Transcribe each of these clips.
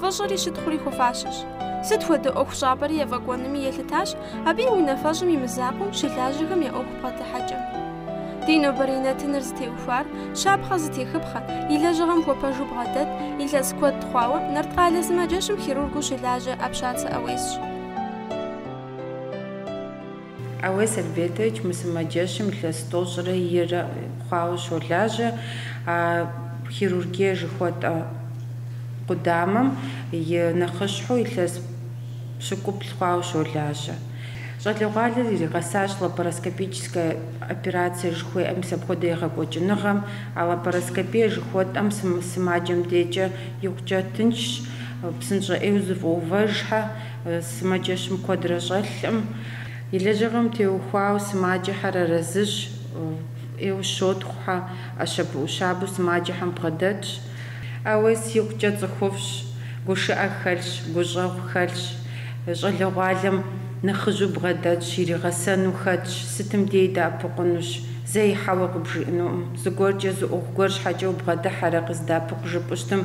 Фӏыщӏэри щытхъури хуэфащэщ. Сыт хуэдэ ӏуэхущӏапӏэри ефӏэкӏуэнми елъытащ абы и унафэщӏым и мызакъуэу щылажьэхэм я ӏуэху бгъэдыхьэкӏэм. Ди нобэрей нэтыныр зытеухуар, щапхъэ зытехыпхъэ, и лэжьыгъэм хуэпэжу бгъэдэт, илъэс куэд хъуауэ, Нарткъалэ сымаджэщым хирургыу щылажьэ Апщацэ ӏэуесщ. Ауес Альбертович мы сымаджэщым илъэс тӏощӏрэ ирэ хъуауэ щолажьэ а хирургие жыхуэтӏэ къудамэм и нэхъыщхьэу илъэс пщыкӏуплӏ хъуауэ щолажьэ. Щӏалэгъуалэр иригъэсащ лапароскопическэ операцие жыхуеӏэ мис апхуэдэ егъэкӏуэкӏыныгъэм. А лапароскопие жыхуэтӏэм сымаджэм декӏэ икъукӏэ тыншщ, псынщӏэ ӏейуэ зыфӏэувэжхьэ. Сымаджэщым куэдрэ щӏэлъкъым. И лэжьыгъэм теухуауэ сымаджэхэр арэзыщ, фӏы ӏейуэ щотхъухьэ, ӏэщабэ-ӏущабэу сымаджэхэм бгъэдэтщ. Ауес икъукӏэ цӏыхуфӏщ, гушыӏэ хэлъщ, гущӏэгъу хэлъщ. Щӏалэгъуалэм нэхъыжьу бгъэдэтщ, иригъэсэну хэтщ, сытым дей дэӏэпыкъунущ, зэи хьэуэ къыбжиӏэнукъым. Зыгуэркӏэ зы ӏуэху гуэр щхьэкӏэ убгъэдыхьэрэ, къыздэӏэпыкъу жыпӏэу щытмэ.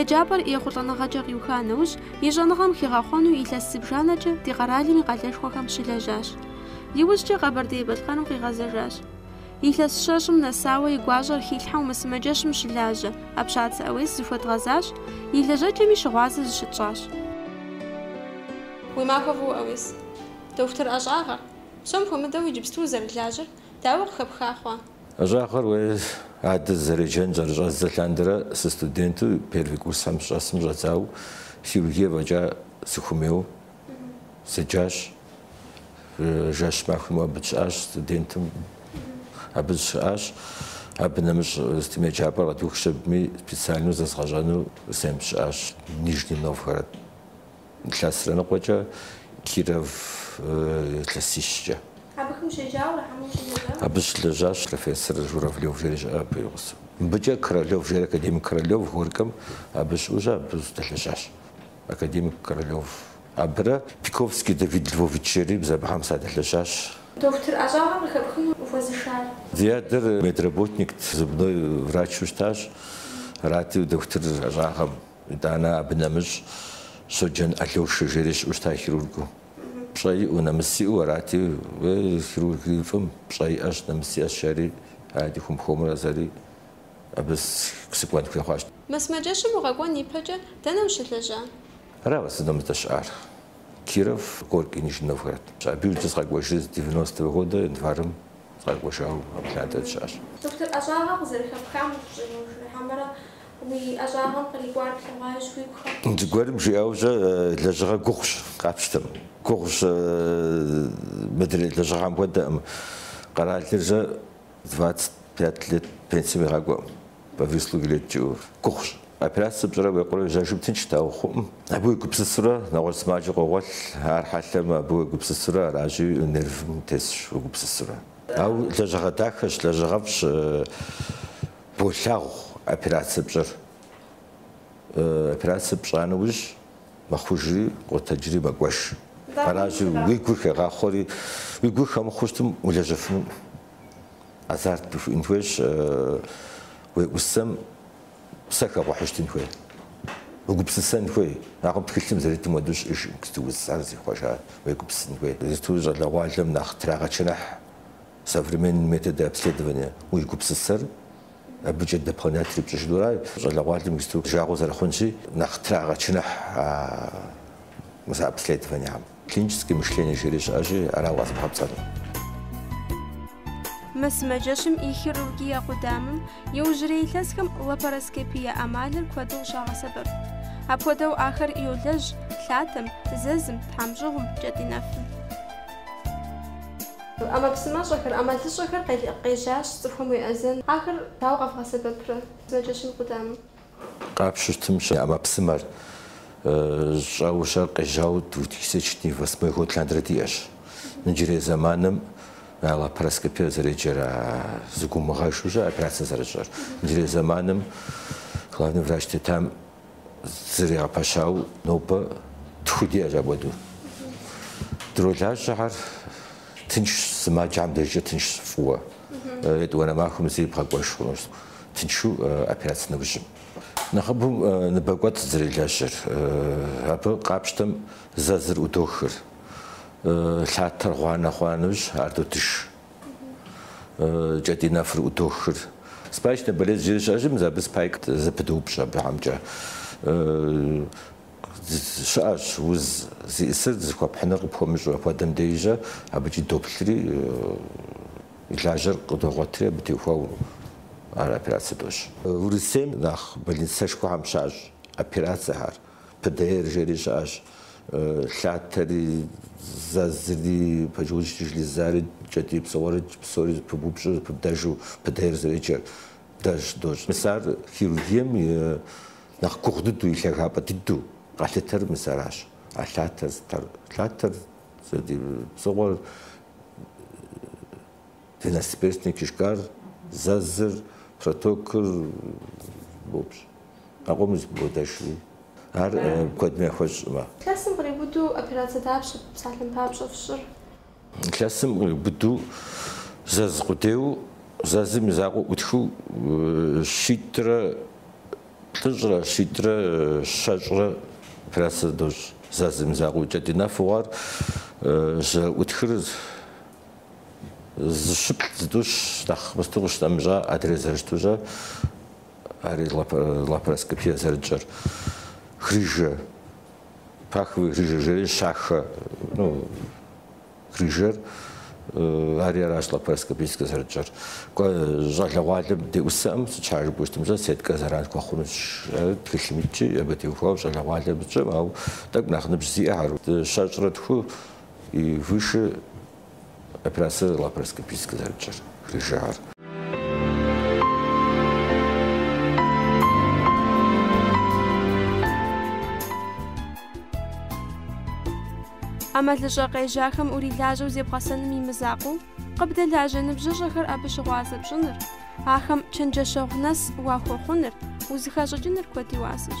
Еджапӏэр ехъулӏэныгъэкӏэ къиуха нэужь, и щӏэныгъэм хигъэхъуэну илъэс зыбжанэкӏэ ди къэралым и къалэшхуэхэм щылэжьащ. Иужькӏэ Къэбэрдей-Балъкъэрым къигъэзэжащ. Илъэс щэщӏым нэсауэ и гуащӏэр хилъхьэу мы сымаджэщым щылажьэ, Апщацэ ӏэуес зыхуэдгъэзащ, и лэжьэкӏэми щыгъуазэ зыщытщӏащ. Уи махуэ фӏыуэ ӏэуес! Дохутыр ӏэщӏагъэр, псом хуэмыдэу иджыпсту узэрылажьэр дауэ къыхэпха хъуа? ӏэщӏагъэр уэ адэ сызэреджэн зэрыщӏэздзэ лъандэрэ сыстуденту первый курсхэм сыщӏэсым щӏэдзауэ хирургие фӏэкӏа сыхуэмейуэ седжащ. Жэщ-махуэ имыӏэу абы дыщыӏащ студентым. Абы сыщыӏащ. Абы нэмыщӏ сытым еджапӏэр къэдухщ, абыми специальнэу зэзгъэщӏэну сэ сыщыӏащ Нижний Новгород. Илъэсрэ ныкъуэкӏэ Киров илъэсищкӏэ. Абыхэм ущеджауэ ара хьэмэ ущылэжьа? Абы сыщылэжьащ профессор Журавлев жери щыӏэ абы и гъусэу. Мыбыкӏэ Королев жери академик Королев Горькэм абы щыӏэу абы сыдэлэжьащ. Академик Королев абырэ Пиковский Давид Львович жери мис абыхэм садэлэжьащ. Дохутыр ӏэщӏагъэр къыхэпхыну ухуэзышар? Ди адэр медработникт, зубной врачу щытащ, арати дохутыр ӏэщӏагъэм. Итӏанэ абы нэмыщӏ Щоджэн Алёшэ жери щыӏэу щыта хирургыу. Пщӏэ иӏэу, нэмыс иӏэу арати, хирургыфӏым пщӏэ иӏэщ, нэмыс иӏэщ жери, арати хуэм-хуэмурэ сэри абы сыкӏуэн хуей хъуащ. Мы сымаджэщым укъэкӏуэн ипэкӏэ дэнэ ущылэжьа? Ара уэ сыдэу мы сыздэщыӏар: Киров, Горький, Нижний Новгород. Абы иужькӏэ сыкъэкӏуэжри с девяностого года январым сыкъэкӏуэжауэ абы лъандэрэ сыщыӏэщ. Дохутыр ӏэщӏагъэ къызэрыхэпхам ухущӏегъуэжа хьэмэрэ Уи ӏэщӏагъэм кърикӏуар плъэгъуащ уигу хэт. Зыгуэрым жиӏэукӏэ лэжьыгъэ гугъущ, къапщтэм. Гугъущ, мыдрей лэжьыгъэм хуэдэкъым. Къэралырзэ двадцать пять лет пенсием игъакӏуэкъым, по выслуге лет жиӏэу. Гугъущ. Операцэ пщӏырэ уекъурэ жьэжым тыншт, ауэ хъуӏым. Абы уегупсысурэ нэгъуэщӏ сымаджэ къогъуэлъ, ар хьэлъэмэ, абы уегупсысурэ аращи, нервым тесщ уегупсысурэ. Ауэ лэжьыгъэ дахэщ, лэжьыгъэфӏщ. Болъагъу операцэ пщӏэр. Операцэ пщӏа нэужь мэхъужри къотэджри мэкӏуэж. Аращи, уи гур хегъахъуэри, уи гур хэмыхъуу щытым улэжьэфынукъым, азарт хууиӏэн хуейщ, уеӏусэм псэ хэплъхьэу щытын хуей, угупсысэн хуей, акъыл тхылъым зэритым хуэдэу щыӏэжкъым, сыту уз, ар зихъуэжа, уегупсысын хуей. Зыту щӏалэгъуалэм нэхъ трагъэчыныхь. Современные методы обследования уи гупсысэр абыкӏэ дополнять ирипщӏыжынура, щӏалэгъуалэм иджыпсту жагъуэ зэрыхъунщи, нэхъ трагъэчыныхь а мис а обследованиехэм. Клиническое мышление жери щыӏэщи, ара укъэзымыгъэпцӏэну. Мы сымаджэщым и хирургие къудамэм иужьрей илъэсхэм лапароскопие ӏэмалыр куэду къыщагъэсэбэп. Апхуэдэу ахэр йолэжь лъатэм, зэзым, тхьэмщӏыгъум, кӏэтӏий нэфым. ӏэмэпсымэщӏэхэр, ӏэмалыщӏэхэр къежьащ цӏыхухэм уеӏэзэн. Ахэр дауэ къэвгъэсэбэпрэ сымаджэщым къудамэм? Къапщтэм щӏэкӏа ӏэмэпсымэр щӏэуэ щӏэр къежьауэ две тысячи восьмой год лъандэрэ диӏэщ. Иджырей зэманым а лапароскопиер зэреджэр, а зэгуумыгъэжу щӏыр операцэ зэрыщӏыр. Иджырей зэманым главный врач тетам Зэригъэпэщауэ нобэ тху диӏэщ апхуэдэу. Дролажьэхэр тыншщ, сымаджэхэм дежкӏэ тыншщ фӏыуэ. Етӏуанэ махуэм зыри бгъэкӏуэж хъунущ тыншу операцэ нэужьым. Нэхъыбэу ныбэкӏуэцӏ зэрелэжьэр. Абы къапщтэм зэзыр ӏудохыр. Лъатэр гъуанэ хъуа нэужь ар додыж. кӏэтӏий нэфыр ӏудохыр. Спаечная болезнь жери щыӏэщи, мис абы спайкэ зэпыдоупщӏ абыхьэмкӏэ. Щыӏэщ уз зиӏысыр зыхуэпхьыныр къыпхуэмыщӏу апхуэдэм дежьэ, абыкӏи доплъри, и лажьэр къыдогъуэтри абы теухуауэ ар операцэ дощӏ. Урысейм нэхъ больницэшхуэхэм щащӏ операцэхэр. ПДР жери щыӏэщ, лъатэри, зэзри, поджелудочная железари, кӏэтӏий псыгъуэри, псори зэпыбупщӏу, зэпыбдэжу ПДР зэреджэр дэж дощӏ. Мис ар хирургием и нэхъ гугъу дыдэу, и лъагапӏэ дыдэу къалъытэр мис аращ, а лъатэр зытар, лъатэр, кӏэтӏий псыгъуэр. Двенадцатиперстный кишкар, зэзыр, протокыр, боупщӏ, а къомыр зэпыбодэжри, ар куэдым яхуэщӏӏым. Илъэсым къриубыдэу операцэ дапщэ псалъэм папщӏэ фщӏыр? Илъэсым къриубыдэу зэз къудейуэ, зэзым и закъуэ ӏутхыу щитӏрэ плӏыщӏрэ, щитӏрэ щэщӏрэ операцэ дощӏ. Зэзым и закъуэ икӏэ ди нэфӏу ар зэрыӏутхыр зыщыплӏ зытӏущ нэхъ мысту къыщытӏэмыщӏа адрей зэрыщыту ари лапароскопие зэрытщӏэр грыжэ паховый грыжа жери щахэ ну грыжэр ари аращ лапароскопическэ зэрытщӏэр щӏалэгъуалэм деӏусэӏым сыт щхьа жыпӏущтымчӏэ сеткэ зэран хуэхъуну тхылъым итщи абы теухуауэ щӏалэгъуалэм щӏым ауэ тӏэкӏу нэхъ ныбжь зиӏэхэр щэщӏрэ тху И гушы операцэр лапароскопическэ зэрыпщӏэр грыжэр. ӏэмалыщӏэ къежьахэм урилажьэу зебгъэсэным и мызакъуэу, къыбдэлажьэ ныбжьыщӏэхэр абы щыгъуазэ пщӏыныр, ахэм чэнджэщэгъу нэс уахуэхъуныр, узыхащӏыкӏыныр куэд и уасэщ.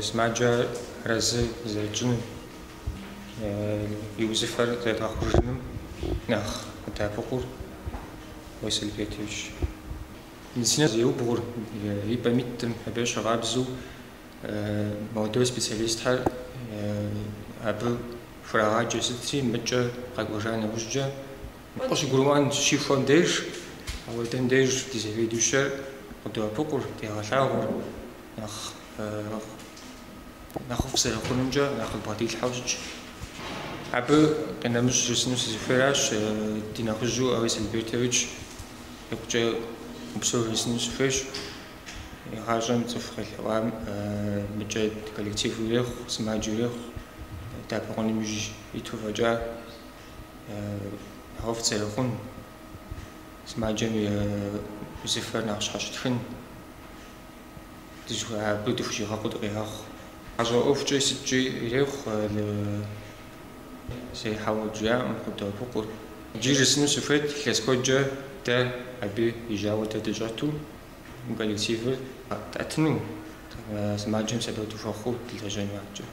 Сымаджэ арэзы зэрытщӏыным, и узыфэр зэрыдгъэхъужыным нэхъ къыддэӏэпыкъур Василий Петрович. Медицинэм зеубгъур, и пӏэм итӏым, абы щыгъуазэу молодой специалистхэр абы хурагъаджэ сытри, мыкӏэ къэкӏуэжа нэужькӏэ къыщыгурымыӏуэм щихуэм деж, апхуэдэм деж ди заведующэр къыддоӏэпыкъур, дегъэлъагъур. Нэхъыфӏ зэрыхъунумкӏэ нэхъ къыдбгъэдилъхьэу щытщ. Абы къинэмыщӏ жысӏэну сызыхуейращ, ди нэхъыжьу Ауес Альбертович икъукӏэ упсэу жысӏэну сыхуейщ. Игъащӏэм цӏыху къелъэӏуам мыкӏэ коллектив ирехъу, сымаджэ ирехъу, сэбэп хуэхъуным иужь иту фӏэкӏа нэхъыфӏ зэрыхъун, сымаджэм и узыфэр нэхъ щхьэщытхын. дыжьхуэ абы дыхущӏигъэкъуу дыкъигъэхъу. Гъащӏэ ӏуэхукӏэ сыткӏи ирехъу зэи хьэуэ жиӏэӏым, къыддоӏэпыкъур. Иджы жысӏэну сыхуейт, илъэс куэдкӏэ дэ абы и жьауэ дэ дыщӏэту мы коллективыр къэттӏэтыну, сымаджэм сэбэпу дыхуэхъуу дылэжьэн хуэхъукӏэ.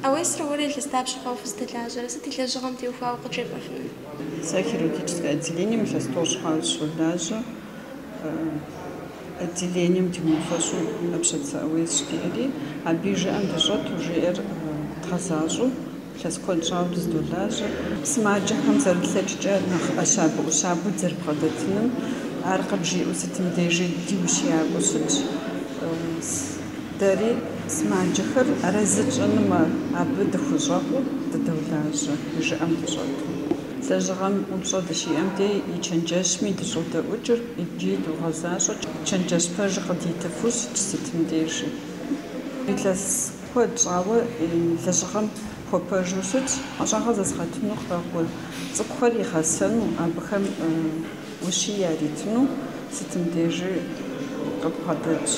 Ауесрэ уэрэ илъэс дапщэ хъуауэ фызэдэлажьэрэ? Сыт и лэжьыгъэм теухуауэ къыджепӏэфынур? Сэ хирургическэ отделением илъэс тӏощӏ хъуауэ сыщолажьэ. Отделением ди унафэщӏу ӏэпщацэ Ауес жиӏэри, абы и жыӏэм дыщӏэту жиӏэр дгъэзащӏэу илъэс куэд щӏауэ дызэдолажьэ. Сымаджэхэм зэрылъэкӏкӏэ нэхъ ӏэщабэӏущабэу дызэрыбгъэдэтыным, ар къыбжиӏэу сытым дежи ди ущиякӏуэу щытщ. Дэри сымаджэхэр арэзы тщӏынумэ, абы дыхущӏэкъуу дыдолажьэ, жыӏэм дыщӏэту. Лэжьыгъэм упщӏэ дыщиӏэм де и чэнджэщми дыщӏодэӏукӏыр икӏи догъэзащӏэ, чэнджэщ пэжыр къыдитыфу щытщ сытым дежи. Илъэс куэд щӏауэ лэжьыгъэм хуэпэжу щытщ, ӏэщӏагъэ зэзыгъэгъуэтыну къакӏуэ цӏыкӏухэр игъэсэну, абыхэм ущие яритыну сытым дежи къыбгъэдэтщ.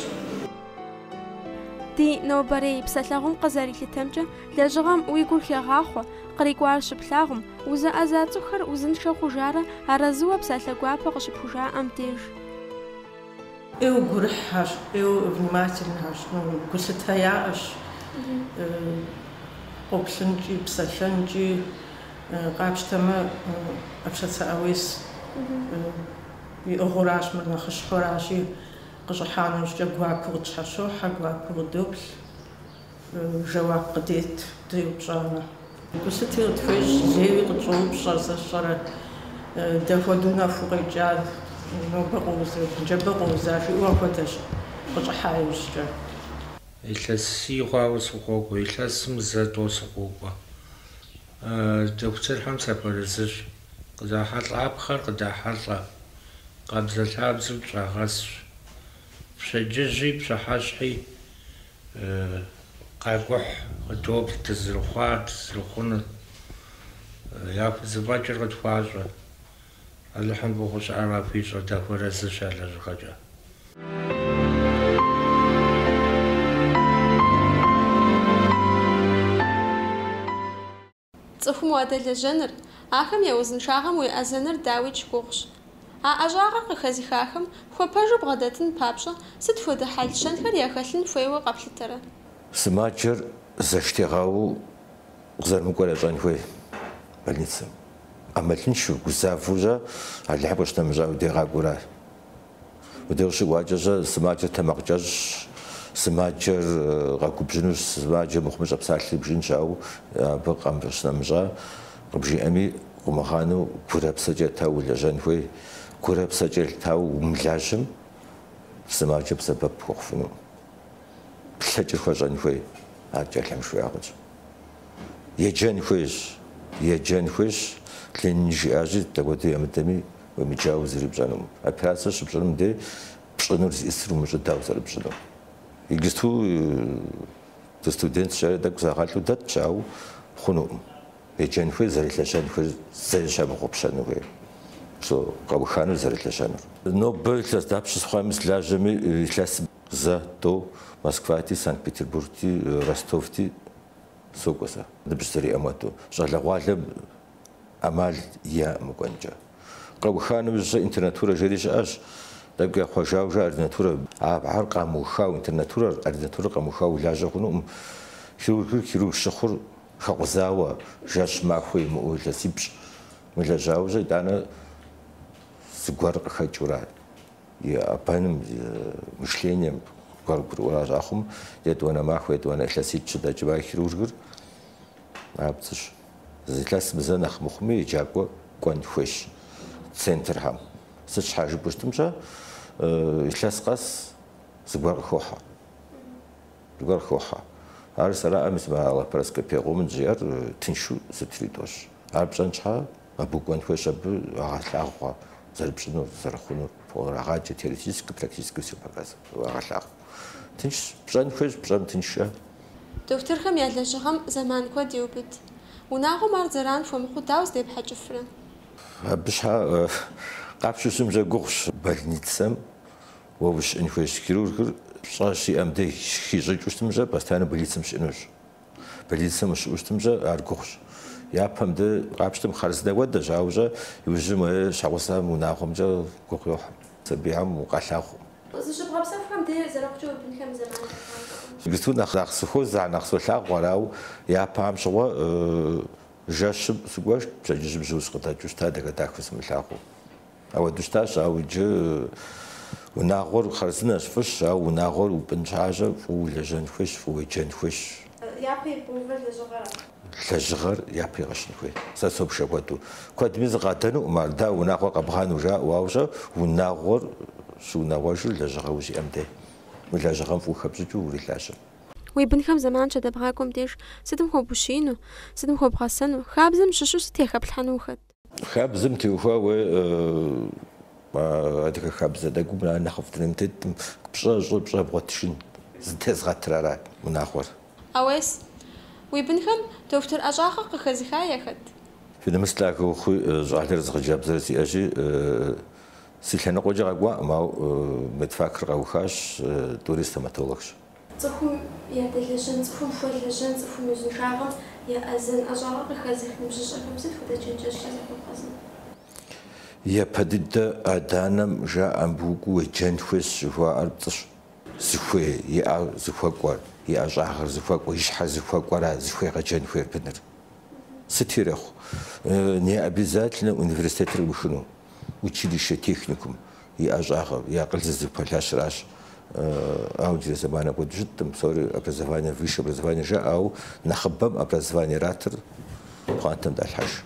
Ди нобэрей псалъэгъум къызэрилъытэмкӏэ, лэжьыгъэм уи гур хегъахъуэ, кърикӏуар щыплъагъум, узэӏэза цӏыхухэр узыншэ хъужарэ арэзыуэ псалъэ гуапэ къыщыпхужаӏэм деж. ӏейуэ гурыхьхэщ, ӏейуэ внимательнэхэщ, гулъытэ яӏэщ къоплъынкӏи, псэлъэнкӏи, къапщтэмэ, ӏэпщацэ ӏэуес иӏыгъыуращ, мыр нэхъыщхьэуращи, Къыщӏыхьа нэужькӏэ гуакӏуэу къытщхьэщохьэ, гуакӏуэу къыдоплъ, жэуап къыдет деупщӏамэ. Гулъыти къытхуещӏ, зейуи къытщӏоупщӏэ, сэ сщӏэрэ, дапхуэдэу нэху укъекӏар нобэ къоузэ, джабэ къоуза, жиӏэу апхуэдэщ, къыщӏыхьа иужькӏэ. Илъэсий хъуауэ сыкъокӏуэ, илъэсым зэ тӏо сыкъокӏуэ, дохутырхэм сахуэарэзыщ. Къызахьэлӏапхъэр къыдахьэлӏэ, къабзэлъабзэу дыщӏагъэсщ. Пщэдджыжьи пщыхьэщхьи къакӏухь, къыдоплъ дызэрыхъуар, дызэрыхъунур. Яхузэфӏэкӏыр къытхуащӏэ. Алыхьым фӏыгъуэу щыӏэр къахуищӏэ, дахуэарэзыщ я лэжьыгъэкӏэ. Цӏыхум уадэлэжьэныр, ахэм я узыншагъэм уеӏэзэныр дауикӏ гугъущ. А ӏэщӏагъэр къыхэзыхахэм хуэпэжу бгъэдэтын папщӏэ сыт хуэдэ хьэл-щэнхэр яхэлъын хуейуэ къэплъытэрэ? Сымаджэр зэштегъэууэ къызэрымыкӏуэр ящӏэн хуей больницэм. ӏэмалыншэу, гузавэу щӏа, Алыхьым къыщынэмыщӏа уи де къакӏуэу аращ. Мыдэу щыкӏуакӏэщӏэ, сымаджэр тэмакъ кӏэщӏщ, сымаджэр къэгубжьынущ, сымаджэм мыхъумыщӏэ псалъи бжынщ, ауэ абы къэмыщӏ-нэмыщӏа къыбжиӏэми, къумыгъанэу гурэ псэкӏэ етауэ улэжьэн хуей, гурэ псэкӏэ етауэ умылажьэм, сымаджэм сэбэп хуэхъуфыну, плъэкӏыр хуэщӏэн хуей, ар кӏэлъым жиӏакъыщ. Еджэн хуейщ, еджэн хуейщ, Ленин жиӏащи, дапхуэдэу ямыдэми, уемыджауэ зыри пщӏэнукъым. Операцэ щыпщӏыным дей пщӏынур зиӏысыр умыщӏэу дауэ зэрыпщӏынур. Иджысту дыстудентщ жари, тӏэкӏу загъэлӏу дэтщ, ауэ хъунукъым. Еджэн хуейр зэрылэжьэнхэр зэи ящымыгъупщэну хуейр. Псо къэуханур зэрылэжьэнур. Нобэ илъэс дапщэ сыхъуами, сылажьэми илъэс зэ, тӏэу, Москвати, Санкт-Петербургти, Ростовти сокӏуэ сэ, ныбжь зэриӏэм уэту. Щӏалэгъуалэм ӏэмал яӏэкъым мыкӏуэнкӏэ. Къэуха нэужь сэ интернатурэ жери щыӏэщ, тӏэкӏу яхъуэжауэ жаӏэ ординатурэ. Абыхэр къамыухауэ, интернатурэр, ординатурэр къэмыухауэ улажьэ хъунукъым. Хирургыр хирург щыхъур хэкъузауэ, жэщ махуэ имыӏэу илъэсипщӏ мылэжьауэ щӏэ итӏанэ зыгуэр къыхэкӏыурэ и ӏэбэным, и мышлением гуэр гурыӏуэу ящӏа хъумэ, етӏуанэ махуэ, етӏуанэ илъэсипщӏ дэкӏмэ, хирургыр Абдзыщ. Зы илъэсым зэ нэхъ мыхъуми еджакӏуэ кӏуэн хуейщ центрхэм. Сыт щхьэ жыпӏэу щытым щӏэ, илъэс къэс зыгуэр къыхохьэ. Зыгуэр къыхохьэ. Ар зэраӏэ мис мы а лапароскоп пегъуумын жиӏэр тыншу сытри дощӏ. Ар пщӏэн щхьэ, абы укӏуэн хуейщ, абы уагъэлъагъу зэрыпщӏынур, зэрыхъунур урагъаджэ, теоретически, практически всё показывает, уагъэлъагъу. Тыншщ, пщӏэн хуейщ, пщӏэм тыншщ щӏэ. Дохутырхэм я лэжьыгъэм зэман куэд еубыд. Унагъуэм ар зэран хуэмыхъуу дауэ здепхьэкӏыфрэ? Абы щхьэ къапщтэу щытым щӏэ гугъущ. Больницэм уэ ущыӏэн хуейщ. Хирургыр пщӏэ щиӏэм деж хищӏыкӏыу щытым щӏэ, постоянно больницэм щыӏэнущ. Больницэм ущыӏэу щытым щӏэ, ар гугъущ. Япэм дей къапщтэмэ, хъарзынэ хуэдэщ, ауэ щӏэ иужьым уи щхьэгъусэм унагъуэмкӏэ гугъу йохь. Сабийхэм укъалъагъукъым. Зыщыбгъэпсэхухэм дей зэрыхъукӏэ уи бынхэм я зэманым къыхахыркъым. Иджысту нэхъ нэхъ сыхуозэ, ар нэхъ солъагъу, арау япэ ам щыгъуэ жэщым сыкӏуэжт, пщэдджыжьым жьыу сыкъыдэкӏыу щыта, дахэ-дахэу сымылъагъуу. Ауэду щытащ, ауэ иджы унагъуэр хъарзынэщ, фӏыщ, ауэ унагъуэр упӏын щхьэ щӏэ, фӏыуэ улэжьэн хуейщ, фӏыуэ уеджэн хуейщ. Япэ ибгъэувэр лэжьыгъэра? Лэжьыгъэр япэ игъэщын хуей. Сэ собж апхуэдэу. Куэдми зыкъадэнукъым ар, дауэ унагъуэр къэбгъэну жаӏэу, ауэ щӏэ унагъуэр щыунагъуэжыр лэжьыгъэ узиӏэм дей. Уи лэжьыгъэм фӏыуэ хэпщӏыкӏыу урилажьэ. Уи бынхэм зэман щадэбгъакӏуэм деж сытым хуэбущиину, сытым хуэбгъэсэну, хабзэм щыщу сыт яхэплъхьэну ухэт? Хабзэм теухуауэ адыгэ хабзэ дэгум ар нэхъыфӏ дунейм теткъым, пщӏэ щӏы, пщӏэ бгъуэтыжын зытезгъэтыр аращ унагъуэр. Ауес, уи бынхэм дохутыр ӏэщӏагъэ къыхэзыха яхэт? Фи нэмыс лъагэ ухъуи, щӏалэрэ зы хъыджэбзрэ сиӏэщи, си лъэныкъуэкӏэ къэкӏуакъым, ауэ медфакыр къэухащ, тӏури стоматологщ. Цӏыхум ядэлэжьэн, цӏыхум хуэлэжьэн, цӏыхум узыншагъэм яӏэзэн ӏэщӏагъэ къыхэзых ныбжьыщӏэхэм сыт хуэдэ чэнджэщкӏэ захуэбгъэзэн? Япэ дыдэ адэ-анэм жаӏэ, Мыбы ухуеджэн хуейщ жыхуаӏэр пцӏыщ. Зыхуей, и ӏэр зыхуэкӏуэр, и ӏэщӏагъэр зыхуэкӏуэр, и щхьэр зыхуэкӏуэра зыхуегъэджэн хуейр быныр? Сыт ирехъу? Необязательнэ университетыр къиухыну, училище, техникум, и ӏэщӏагъэу, и акъыл зыпэлъэщыращ. Ауэ ди зэманым апхуэдэу щыткъым, псори образование, высшее образование жаӏэ, ауэ нэхъыбэм образованиератыр пхъуантэм далъхьэж.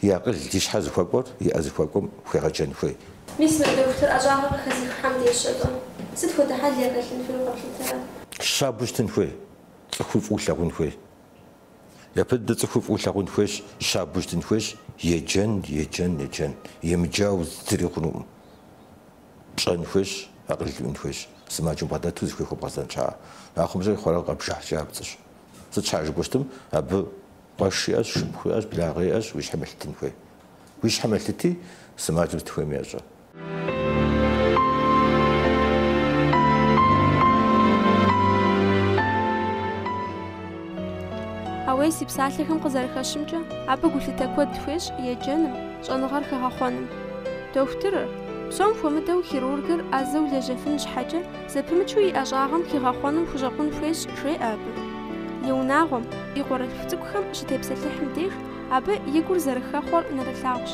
И акъыл, и щхьэр зыхуэкӏуэр и ӏэ зыхуэкӏуэм хуегъэджэн хуей. Мис мы дохутыр ӏэщӏагъэр къыхэзыххэм деж щэ-тӏэ, сыт хуэдэ хьэл яхэлъын хуейуэ къэплъытэрэ? Щабэу щытын хуей, цӏыхуи фӏыуэ лъагъун хуей. Япэ дыдэ цӏыхуи фӏыуэ лъагъун хуейщ, щабэу щытын хуейщ, еджэн, еджэн, еджэн, емыджауэ зыри хъунукъым. Пщӏэн хуейщ, акъыл уиӏэн хуейщ, сымаджэм бгъэдэту зыхуей хуэбгъэзэн щхьэкӏэ. Ахъумэ щэ хъурейуэ къэбжыхькӏэ ар пцӏыщ. Сыт щхьа жыпӏэу щытым, абы къуэш иӏэщ, шыпхъу иӏэщ, благъэ иӏэщ, уи щхьэм елъытын хуей. Уи щхьэм елъыти, сымаджэм сыт хуейми ещӏэ. Ауес и псалъэхэм къызэрыхэщымкӏэ, абы гулъытэ куэд хуещӏ еджэным, щӏэныгъэр хэгъэхъуэным. Дохутырыр, псом хуэмыдэу хирургыр ӏэзэу лэжьэфын щхьэкӏэ, зэпымычу и ӏэщӏагъэм хигъэхъуэным хущӏэкъун хуейщ, жеӏэ абы. И унагъуэм, и къуэрылъху цӏыкӏухэм щытепсэлъыхьым деж, абы и гур зэрыхэхъуэр нэрылъагъущ.